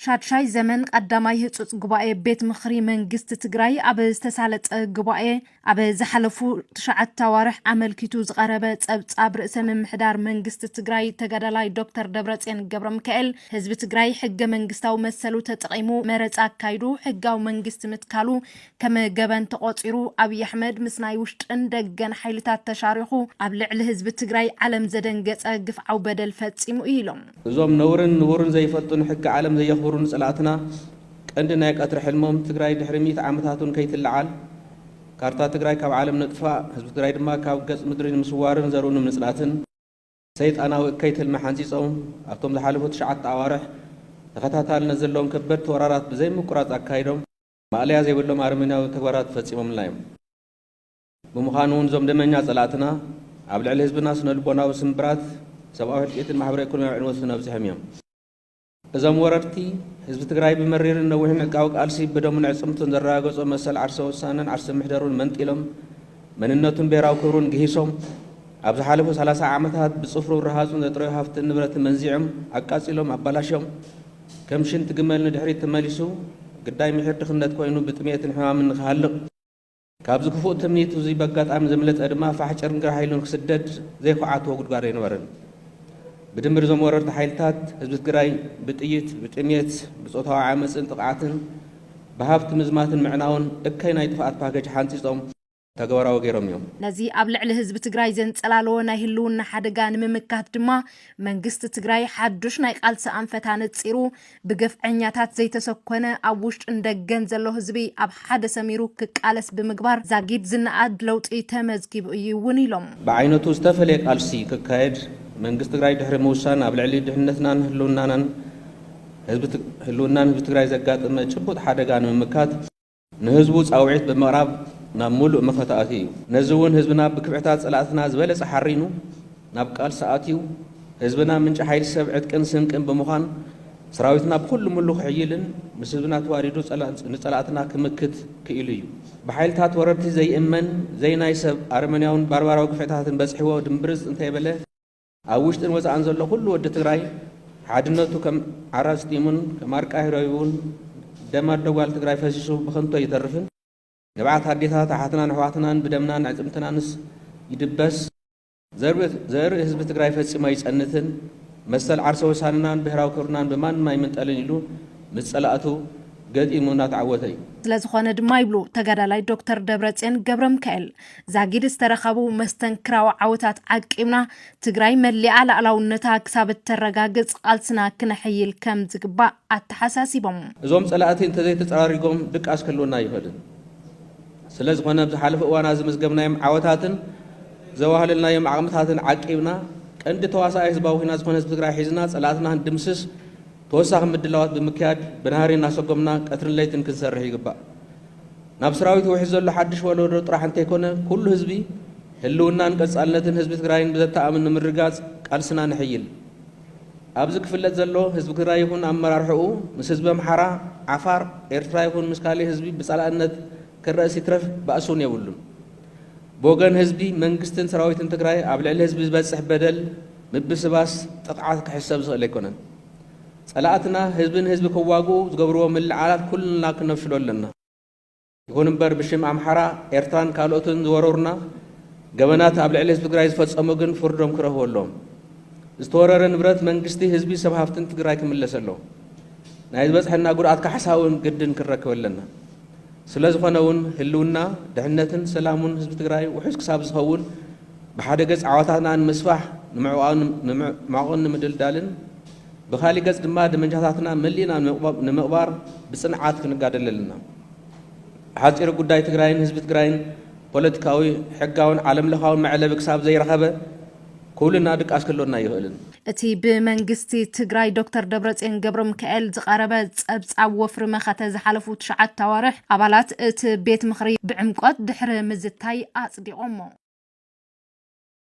ሻድሻይ ዘመን ቀዳማይ ህፁፅ ጉባኤ ቤት ምኽሪ መንግስቲ ትግራይ ኣብ ዝተሳለጠ ጉባኤ ኣብ ዝሓለፉ ትሽዓተ ኣዋርሕ ኣመልኪቱ ዝቐረበ ፀብፃብ ርእሰ ምምሕዳር መንግስቲ ትግራይ ተጋዳላይ ዶክተር ደብረፅዮን ገብረ ሚካኤል ህዝቢ ትግራይ ሕገ መንግስታዊ መሰሉ ተጠቒሙ መረፃ ኣካይዱ ሕጋዊ መንግስቲ ምትካሉ ከም ገበን ተቖፂሩ ኣብይ ኣሕመድ ምስ ናይ ውሽጥን ደገን ሓይልታት ተሻሪኹ ኣብ ልዕሊ ህዝቢ ትግራይ ዓለም ዘደንገፀ ግፍዓዊ በደል ፈፂሙ እዩ ኢሎም። እዞም ነውርን ንቡርን ዘይፈልጡ ንሕጊ ዓለም ዘየኽብሩ ንፅላእትና ቀንዲ ናይ ቀትሪ ሕልሞም ትግራይ ድሕሪ ሚእቲ ዓመታት እውን ከይትለዓል ካርታ ትግራይ ካብ ዓለም ነጥፋእ ህዝቢ ትግራይ ድማ ካብ ገፅ ምድሪ ንምስዋርን ዘርኡ ንምፅላትን ሰይጣናዊ እከይ ትልሚ ሓንፂፆም ኣብቶም ዝሓለፉ ትሽዓተ ኣዋርሕ ተኸታታልነት ዘለዎም ከበድቲ ወራራት ብዘይምቁራፅ ኣካይዶም። ማእለያ ዘይብሎም ኣረሜናዊ ተግባራት ፈጺሞምልና እዮም። ብምዃኑ እውን እዞም ደመኛ ጸላእትና ኣብ ልዕሊ ህዝብና ስነልቦናዊ ስምብራት፣ ሰብኣዊ ህልቂትን ማሕበረ ኢኮኖሚያዊ ዕንወትን ኣብጺሖም እዮም። እዞም ወረርቲ፣ ህዝቢ ትግራይ ብመሪርን ነዊሕን ዕጥቃዊ ቃልሲ ብደሙን ኣዕጽምቱን ዘረጋገጾ መሰል ዓርሰ ውሳነን ዓርሰ ምሕደሩን መንጢሎም፣ መንነቱን ብሄራዊ ክብሩን ግሂሶም፣ ኣብ ዝሓለፉ ሰላሳ ዓመታት ብጽፍሩን ረሃጹን ዘጥረዮ ሃፍትን ንብረትን መንዚዖም፣ ኣቃጺሎም፣ ኣባላሽዮም፣ ከም ሽንቲ ግመል ንድሕሪት ተመሊሱ፣ ግዳይ ምሒር ድኽነት ኮይኑ ብጥምየትን ሕማምን ንክሃልቕ፣ ካብዚ ክፉእ ትምኒቱ እዚ በጋጣሚ ዘምለጠ ድማ ፋሕ ጭርንግራሕ ኢሉ ንክስደድ ዘይኹዓትዎ ጉድጓድ ኣይነበረን። ብድምር እዞም ወረርቲ ሓይልታት ህዝቢ ትግራይ ብጥይት፣ ብጥምየት፣ ብፆታዊ ዓመፅን ጥቕዓትን፣ ብሃብቲ ምዝማትን ምዕናውን እከይ ናይ ጥፍኣት ፓከጅ ሓንፂፆም፣ ተግባራዊ ገይሮም እዮም። ነዚ ኣብ ልዕሊ ህዝቢ ትግራይ ዘንፀላለወ ናይ ህልውና ሓደጋ ንምምካት ድማ መንግስቲ ትግራይ ሓዱሽ ናይ ቓልሲ ኣንፈት ኣነፂሩ ብግፍዐኛታት ዘይተሰኮነ ኣብ ውሽጥን ደገን ዘሎ ህዝቢ ኣብ ሓደ ሰሚሩ ክቃለስ ብምግባር ዛጊድ ዝነኣድ ለውጢ ተመዝጊቡ እዩ እውን ኢሎም። ብዓይነቱ ዝተፈለየ ቓልሲ ክካየድ መንግስቲ ትግራይ ድሕሪ ምውሳን ኣብ ልዕሊ ድሕንነትናን ህልውናን ህዝቢ ትግራይ ዘጋጥመ ጭቡጥ ሓደጋ ንምምካት፣ ንህዝቡ ጻውዒት ብምቕራብ ናብ ምሉእ መኸተ ኣትዩ እዩ። ነዚ እውን ህዝብና ብክብሕታት ጸላእትና ዝበለጸ ሓሪኑ ናብ ቃልሲ ኣትዩ። ህዝብና ምንጪ ሓይሊ ሰብ ዕጥቅን ስንቅን ብምዃን ሰራዊትና ብኹሉ ምሉ ክሕይልን ምስ ህዝብና ተዋዲዱ ንጸላእትና ክምክት ክኢሉ እዩ። ብሓይልታት ወረርቲ ዘይእመን ዘይናይ ሰብ ኣረመኔያውን ባርባራዊ ግፍዕታትን በጽሕዎ ድምብርጽ እንተይበለ፣ ኣብ ውሽጥን ወፃእን ዘሎ ኩሉ ወዲ ትግራይ ሓድነቱ ከም ዓራፅ ጢሙን ከም ኣርቃይ ህረዩን ደም ኣዶ ጓል ትግራይ ፈሲሱ ብኸንቱ ኣይተርፍን። ንብዓት ኣዴታት ኣሓትናን ኣሕዋትናን ብደምናን ኣዕፅምትናንስ ይድበስ። ዘርኢ ህዝቢ ትግራይ ፈፂሙ ኣይፀንትን። መሰል ዓርሰ ወሳንናን ብሄራዊ ክብርናን ብማንም ኣይምንጠልን ኢሉ ምስ ፀላእቱ ገጢሙ እናተዓወተ እዩ። ስለዝኾነ ድማ ይብሉ ተጋዳላይ ዶክተር ደብረፅዮን ገብረምካኤል፣ ዛጊድ ዝተረኸቡ መስተንክራዊ ዓወታት ዓቂብና ትግራይ መሊኣ ላእላውነታ ክሳብ እተረጋግፅ ቓልስና ክነሐይል ከምዝግባእ ኣተሓሳሲቦም። እዞም ፀላእቲ እንተዘይተፀራሪጎም ድቃስ ክህልወና ኣይኽእልን። ስለዝኾነ ኣብ ዝሓለፉ እዋናት ዘመዝገብናዮም ዓወታትን ዘዋህለልናዮም ዓቕምታትን ዓቂብና ቀንዲ ተዋሳኣይ ህዝባዊ ኹናት ዝኾነ ህዝቢ ትግራይ ሒዝና ፀላእትና ክንድምስስ ተወሳኺ ምድላዋት ብምክያድ ብናህሪ እናሰጎምና ቀትርን ለይትን ክንሰርሕ ይግባእ። ናብ ስራዊት ውሕዝ ዘሎ ሓድሽ ወለዶ ጥራሕ እንተይኮነ ኩሉ ህዝቢ ህልውናን ቀፃልነትን ህዝቢ ትግራይን ብዘተኣምን ንምርግጋፅ ቃልስና ነሕይል። ኣብዚ ክፍለጥ ዘሎ ህዝቢ ትግራይ ይኹን ኣመራርሕኡ ምስ ህዝቢ ኣምሓራ፣ ዓፋር፣ ኤርትራ ይኹን ምስ ካሊእ ህዝቢ ብፃላእነት ክረእስ ይትረፍ ባእሲ እውን የብሉን። ብወገን ህዝቢ፣ መንግስትን ስራዊትን ትግራይ ኣብ ልዕሊ ህዝቢ ዝበፅሕ በደል፣ ምብስባስ፣ ጥቕዓት ክሕሰብ ዝኽእል ኣይኮነን። ፀላእትና ህዝቢ ንህዝቢ ክዋግኡ ዝገብርዎ ምልዕዓላት ኩልና ክነፍሽሎ ኣለና። ይኹን እምበር ብሽም ኣምሓራ፣ ኤርትራን ካልኦትን ዝወረሩና ገበናት ኣብ ልዕሊ ህዝቢ ትግራይ ዝፈፀሙ ግን ፍርዶም ክረኽቡ ኣለዎም። ዝተወረረ ንብረት መንግስቲ፣ ህዝቢ፣ ሰብ ሃፍትን ትግራይ ክምለስ ኣለዎ። ናይ ዝበፅሐና ጉድኣት ካሕሳ እውን ግድን ክንረክብ ኣለና። ስለዝኾነ እውን ህልውና፣ ድሕነትን ሰላሙን ህዝቢ ትግራይ ውሑስ ክሳብ ዝኸውን፣ ብሓደ ገፅ ዓወታትና ንምስፋሕ ንምዕቋብን ንምድልዳልን፣ ብኻሊእ ገፅ ድማ ደመንጃታትና መሊእና ንምቕባር ብፅንዓት ክንጋደል ኣለና። ብሓፂሩ ጉዳይ ትግራይን ህዝቢ ትግራይን ፖለቲካዊ፣ ሕጋውን ዓለም ለኻውን መዕለቢ ክሳብ ዘይረኸበ ኩልና ድቃስ ክህልወና ኣይኽእልን። እቲ ብመንግስቲ ትግራይ ዶክተር ደብረፅዮን ገብረሚካኤል ዝቐረበ ፀብፃብ ወፍሪ መኸተ ዝሓለፉ ትሽዓተ ኣዋርሕ ኣባላት እቲ ቤት ምኽሪ ብዕምቆት ድሕሪ ምዝታይ ኣፅዲቖሞ።